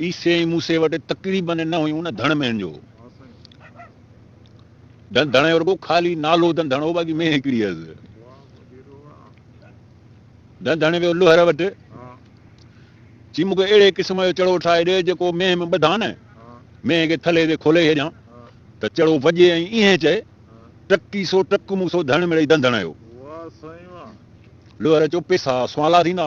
عيسي ۽ موسي وٽ تڪڙي بنهه نه هيون نه ڌڻ مينهن جو هو ڌڻ ڌڻ رڳو خالي نالو ڌن ڌڻ هو باقي مينهن هڪڙي هيس ڌن ڌڻ ويو لوهر وٽ چي مونکي اهڙي قسم جو چڙو ٺاهي ڏي جيڪو مينهن ۾ ٻڌان نه مينهن کي ٿلهي تي کولي ڇڏيان ته چڙو وڄي ۽ ائين چئي ٽڪي سو ٽڪ مون سو ڌڻ مڙئي ڌن ڌڻ هيو لوهر چو پيسا سوالا ٿيندا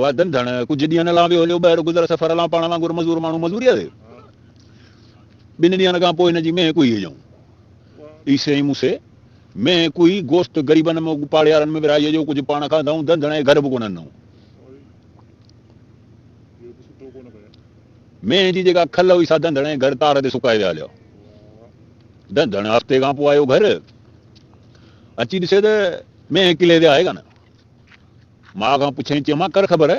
وعدن ڌڻ ڪجهه ڏينهن لا ويو هليو ٻهر گذر سفر لا پاڻ وانگر مزور ماڻهو مزوريء تي ٻن ڏينهن کان پوء هن جي مينهن ڪوئي هجئون عيسي ۽ موسي مينهن ڪوئي گوشت غريبن ۾ پاڙيارن ۾ ورهائي جو ڪجهه پاڻ کاڌائون ڌن ڌڻ ۽ گهر به ڪونه ڏنائون مينهن جي جيڪا کل هئي سا ڌن ڌڻ ۽ گهر تار تي سڪائي ويا هليا ڌن ڌڻ هفتي کان پوء آيو گهر اچي ڏسي ته مينهن ڪلي تي آهي ڪانه ماء کان پڇيائين، چيو مان ڪر خبر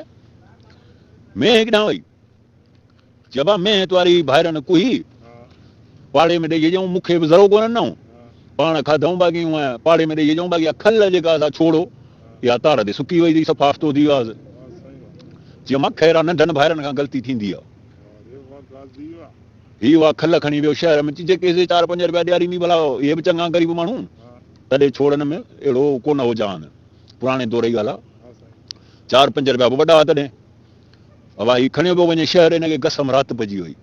مينهن ڪيڏانهن وئي؟ چيو آ مينهن تواري ڀائرن ڪوهي پاڙي ۾ ڏئي اچئون، مون کي به ذرو ڪونه ڏنائون، پاڻ کاڌئون باقي هونء پاڙي ۾ ڏئي اچئون، باقي اها کل جيڪا سا ڇوڙو اها تار تي سڪي وئي اٿئي، سفا آفتو ٿي وياس. چيو مان خير آ، ننڍن ڀائرن کان غلطي ٿيندي آ. هي اها کل کڻي ويو شهر ۾، چيو جيڪي سي چار پنج رپيا ڏياريندين ڀلا اهي به چڱا غريب ماڻهو. تڏهن ڇوڙن ۾ اهڙو ڪونه هو جهان. پراڻي دور جي ڳالهه آ. چار پنج رپيا به وڏا آ تڏهن. اوا هي کڻيو پيو وڃي شهر هن کي گسم رات پئجي وئي.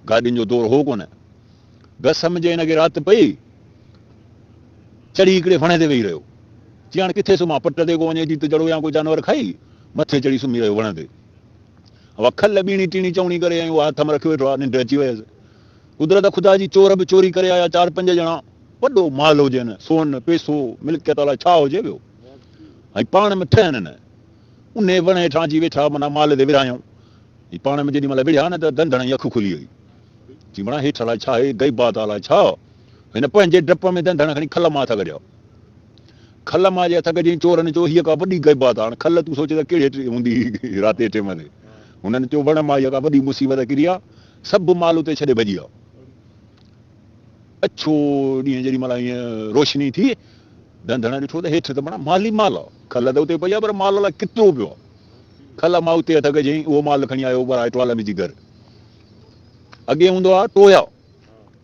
گاڏين جو دور هو ڪونه. گسم جي هن کي رات پئي. چڙهي هڪڙي وڻ تي ويهي رهيو. چي هاڻ ڪٿي سمهان پٽ تي ڪو وڃي جيت جڙو يا ڪو جانور کائي. مٿي چڙهي سمهي رهيو وڻ تي. اوا کل ٻيڻي ٽيڻي چوڻي ڪري ۽ اها هٿ م رکي ويٺو آ. ننڊ اچي ويس. قدرت خدا جي چور به چوري ڪري آيا چار پنج ڄڻا وڏو مال هجين سون پيسو ملڪيت الاء ڇا هجي ويو ۽ پاڻ ۾ ٺهن نه انهي وڻ هيٺان اچي ويٺا معنيٰ مال تي ورهايائون ۽ پاڻ ۾ جيڏي مهل وڙهيا نه ته ڌنڌڻ جي اک کلي وئي چي مڙا هيٺ الاء ڇا هي غيبات الاء ڇا هن پنهنجي ڊپ ۾ ڌنڌڻ کڻي کل مان هٿ ڪڍيا کل مان جي هٿ ڪڍيائين چورن چيو هيء ڪا وڏي غيبات هاڻ کل تون سوچ ته ڪهڙي هوندي رات جي ٽيم تي هنن چيو وڻ مان هيء ڪا وڏي مصيبت ڪري آ سڀ مال اتي ڇڏي ڀڄي ويا. اڇو ڏينهن جيڏي مهل ائين روشني ٿي، ڌنڌڻ ڏٺو ته هيٺ ته بڻا مال ئي مال هئا. کل ته اتي پئي هئا پر مال الائي ڪيترو پيو هئا. کل مان اتي هٿ ڪجهيائين، اهو مال کڻي آيو هو پر آء ٽوالن جي گهر اڳي هوندو هئا ٽويا.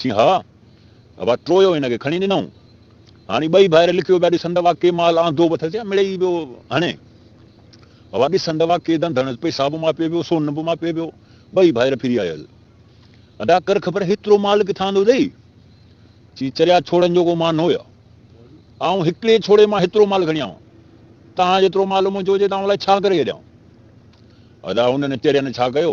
سي ها، ابا ٽرويو هن کي کڻي ڏنائون. هاڻي ٻئي ڀائر لڪيو پيا ڏسن ته اها ڪي مال آندو به اٿس يا مڙيئي پيو هڻي. ابا ڏسن ته اها ڪي ڌنڌ هڻس، پئسا به ماپي پيو، سون به ماپي پيو. ٻئي ڀائر ڦري آيس. ادا ڪر خبر هيترو مال ڪٿان آندو اٿئي؟ سي چريا ڇوڙن جو ڪو مان نه هيا. آئون هڪڙي ڇوڙي مان هيترو مال کڻي آئون. تان جيترو مال منهنجو هجي ته آئون الائي ڇا ڪري ڇڏيان. ادا هنن چرين ڇا ڪيو؟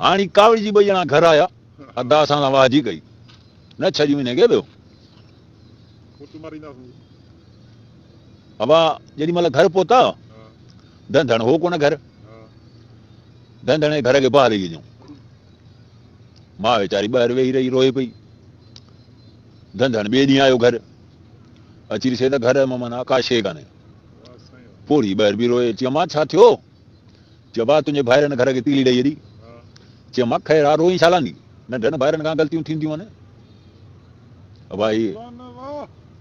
هاڻي ڪاوڙ جي ٻئي ڄڻا گهر آيا، ادا اسان سان واهجي ڪئي، نه ڇهه ڏينهن وڃي ڪيو ويو. ابا جيڏي مهل گهر پهتا، ڌنڌڻ هو ڪونه گهر. ڌنڌڻ جي گهر کي باهه ڏئي ڏنو. ماء ويچاري ٻاهر ويهي رهي، روئي پئي. ڌنڌڻ ٻئي ڏينهن آيو گهر. اچي ڏسي ته گهر ۾ معنيٰ ڪا شيء ڪانهي. پوڙهي ٻاهر بيهي روئي، چيو مان ڇا ٿيو؟ چيو ڀاء تنهنجي ڀائرن گهر کي تيلي ڏئي ڇڏي. چيو مان خير آ روئين ڇا لاندي ننڍن ڀائرن کان غلطيون ٿينديون آهن ڀائي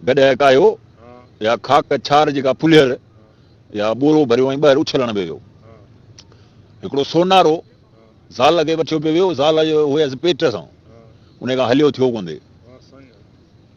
گڏهه ڪاهيو يا خاڪ ڇار جيڪا ڦلهيل يا ٻورو ڀريو ۽ ٻهر اڇلڻ به ويو هڪڙو سونارو زال کي وٺيو پيو ويو زال جو هيس پيٽ سان انهي کان هليو ٿيو ڪوندي.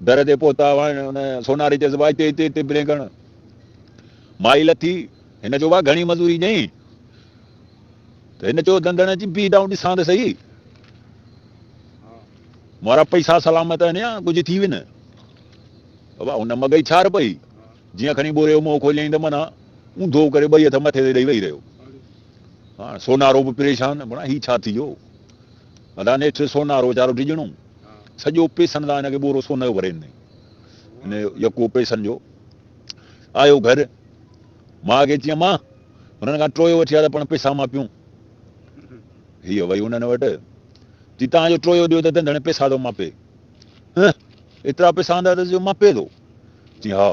در تي پهتا وهن ان سوناري چيس وا هتي هتي هتي برينگڻ مائي لٿي هن چيو وا گهڻي مزوري ڏئين ته هن چيو دندڻ اچي بيهه دائون ڏسان ته سهي مورا پئسا سلامت آهن يا ڪجهه ٿي وين وا ان مگئي ڇار پئي جيئن کڻي ٻوري جو منهن کوليائين ته منا اونڌو ڪري ٻئي هٿ مٿي تي ڏئي ويهي رهيو هاڻ سونارو به پريشان بڻا هي ڇا ٿي ويو ادا نيٺ سونارو ويچارو ڊڄڻو سڄو پيسن سان هن کي ٻورو سون جو ڀري ڏنائين. هن جو يڪو پيسن جو آيو گهر، ماء کي چيائين، ماء! هنن کان ٽويو وٺي آ ته پڻ پيسا ماپيون. هيء وئي هنن وٽ، چي، توهان جو ٽويو ڏيو ته تنهن پيسا ٿو ماپي. هه! ايترا پيسا آندا اٿس جو ماپي ٿو؟ چيائين، ها!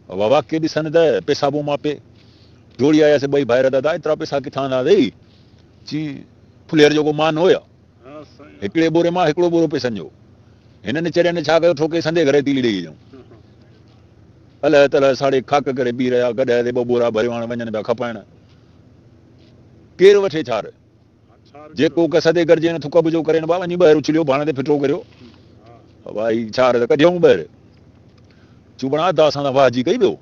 اها واقعي ڏسن ته پيسا به ماپي. ڊوڙي آيس ٻئي ڀائر، دادا! ايترا پيسا ڪٿان آندا اٿئي؟ چيائين، ڦلير جو ڪو مان هو ڇا؟ هڪڙي ٻوري مان هڪڙو ٻورو پيسن جو. هنن چرين ڇا ڪيو ٺوڪي سندي گهري تيلي ڏيئي جون. الهه تلهه ساڙي کاڪ ڪري پي رهيا. گڏهه تي ٻه ٻورا ڀريو هاڻ وڃن پيا کپائڻ. ڪير وٺي ڇار. جي ڪوڪ سدي گرجين ٿڪ به جو ڪرين ڀا وڃي ٻهر اڇليو ڀاڻ تي ڦٽو ڪريو ڀا هي ڇار ته ڪڍيئون ٻهر. چوبڻ ادا اسان سان واهجي ڪئي ويو.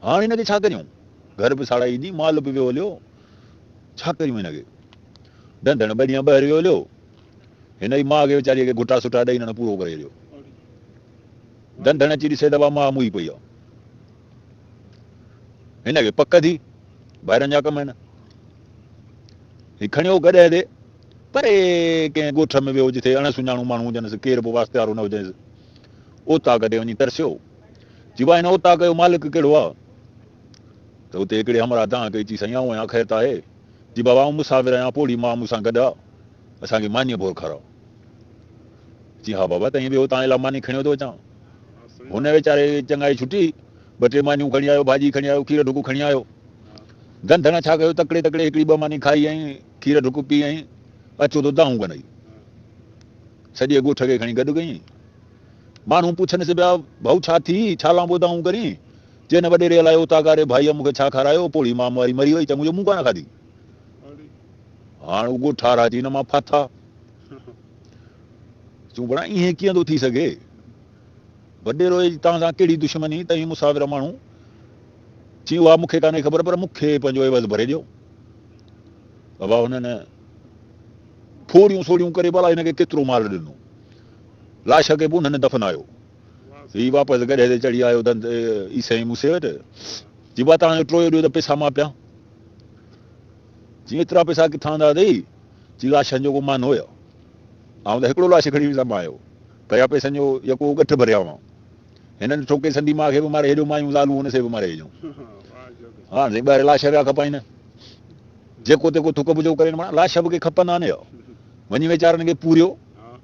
هاڻ هن کي ڇا ڪريون. گهر به ساڙائي ڏني مال به ويو هليو. ڇا ڪريون هن کي. ڍنڍڻ ٻه ڏينهن ٻهر ويو هليو. هن ئي ماء کي ويچاريء کي گهٽا سٺا ڏئي ننڍڻ پورو ڪري هليو. ڍنڍڻ اچي ڏسي ته اها ماء موئي پئي آ. هن کي پڪ ٿي ڀائرن جا ڪم آهن. هي کڻيو گڏهه تي پري ڪنهن ڳوٺ ۾ ويو جٿي اڻ سڃاڻو ماڻهو هجنس، ڪير به واسطيارو نه هجنس. اوطاق تي وڃي ترسيو. چيو آهي هن اوطاق جو مالڪ ڪهڙو آ؟ ته اتي هڪڙي همراهه دانهن ڪئي چي سائين آئون آهيان خير ته آهي؟ جي بابا آئون مسافر آهيان پوڙهي ماء مون سان گڏ آ اسان کي مانيء ڀور کاراء. چيائين ها بابا تئين ويهو تان لاء ماني کڻي ويندو اچان. هن ويچاري چڱائي ڇٽي ٻه ٽي مانيون کڻي آيو ڀاڄي کڻي آيو کير ڍڪ کڻي آيو. گندڻ ڇا ڪيو تڪڙي تڪڙي هڪڙي ٻه ماني کائي ۽ کير ڍڪ پي ۽ اچو ته دانهون ڪنئي سڄي ڳوٺ کي کڻي گڏ ڪيئين. ماڻهو پڇنس پيا ڀائو ڇا ٿي ڇا لانبو دانهون ڪرين. چئي نه وڏيري الائي او تاگاري ڀائيء مون کي ڇا کارايو، پوڙهي مام واري مري وئي، تنهن منهنجو منهن ڪانه کاڌي. هاڻ اگهو ٺار اچي هن مان ڦاٿا. چون ڀلا ائين ڪيئن ٿو ٿي سگهي؟ وڏيرو اي جي توهان سان ڪهڙي دشمني؟ تنهن مسافر ماڻهو چيو اها مون کي ڪانهي خبر پر مون کي پنهنجو عيوض ڀري ڏيو. ابا هنن ڦوڙيون سوڙيون ڪري ڀلا هن کي ڪيترو مال ڏنو. لاش کي به انهن دفنايو. هي واپس گڏهه تي چڙهي آيو ته اي سائين موسي وٽ جبا تان جو ٽويو ڏيو ته پئسا ماپيان. چي ايترا پئسا ڪٿان آندا اٿئي؟ چي لاشن جو ڪو مان هو يا؟ آئون ته هڪڙو لاش کڻي ويندم آيو پيا پئسن جو يڪو ڳٺ ڀريا هئا. هنن ڏٺو ڪي سندي ماء کي به ماري هيڏيو مايون زالون هن سي به ماري هيڏيون. هاڻ سائين ٻاهر لاش پيا کپائين نه جيڪو تيڪو ٿڪ ڀڄو ڪرين مڙا لاش به ڪي کپندا نه يا. وڃي ويچارن کي پوريو.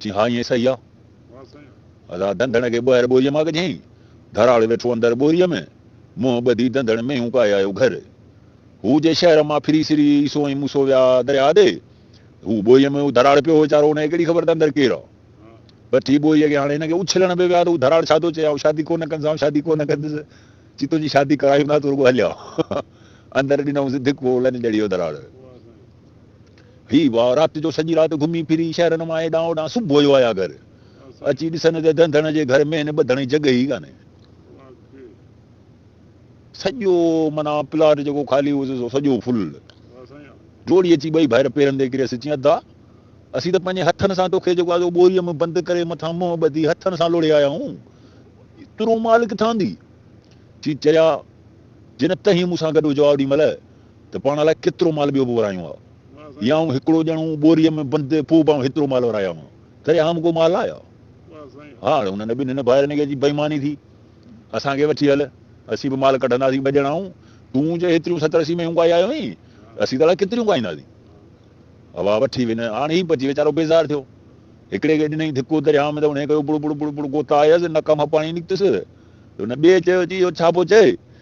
چيائين، ها ائين صحيح آ. ادا ڌنڌڻ کي ٻوهر ٻوريء مان ڪڍيائين. ڌراڙ ويٺو اندر ٻوريء ۾ منهن ٻڌي ڌنڌڻ مينهون ڪاهي آيو گهر. هو جي شهر مان ڦري سري عيسو ۽ موسو ويا درياء ڏي. هو ٻوريء ۾ هو ڌراڙ پيو هو ويچارو ان کي ڪهڙي خبر ته اندر ڪير آ. پٺي ٻوريء کي هاڻي هن کي اڇلڻ به ويا ته هو ڌراڙ ڇا ٿو چئي آئون شادي ڪونه ڪندسان شادي ڪونه ڪندس. چي تنهنجي شادي ڪرايون ٿا تون رڳو هليا. اندر ڏنائونس ڌڪو لڃ ڄڻي هو ڌراڙ. هي واء رات جو سڄي رات گهمي ڦري شهرن مان هيڏانهن هوڏانهن صبح جو آيا گهر اچي ڏسن ته ڌنڌڻ جي گهر ۾ هن ٻڌڻ جي جڳهه ئي ڪانهي سڄو معنيٰ پلاٽ جيڪو خالي هوس سو سڄو فل ڊوڙي اچي ٻئي ڀائر پيرن تي ڪريس چيائين ادا اسين ته پنهنجي هٿن سان توکي جيڪو آزو ٻوريء ۾ بند ڪري مٿان منهن ٻڌي هٿن سان لوڙهي آيا آهيون ترو مال ڪٿان اندي چي چريا جنهن تهين مون سان گڏ هجو آ اوڏي مهل ته پاڻ الائي ڪيترو مال ٻيو به ورايون ها يا آئون هڪڙو ڄڻو ٻوريء ۾ بند ٿي پوء به آئون هيترو مال ورايا هئا تڏهن آئون ڪو مال لايا ها هاڻي انهن ٻنهن ڀائرن کي جي بيماني ٿي اسان کي وٺي هل اسين به مال ڪڍنداسين ٻه ڄڻا آئون تون جي هيتريون ستر اسي مينهون ڪائي آيو آهين اسين ته الائي ڪيتريون ڪائينداسين هوا وٺي وڃ هاڻي هي پچي ويچارو بيزار ٿيو هڪڙي کي ڏنئي ڌڪو درياء ۾ ته انهيء ڪيو بڙ بڙ بڙ بڙ گوتا آيس نڪ مان پاڻي نڪتس ته هن ٻئي چيو چي اهو ڇا پيو چئي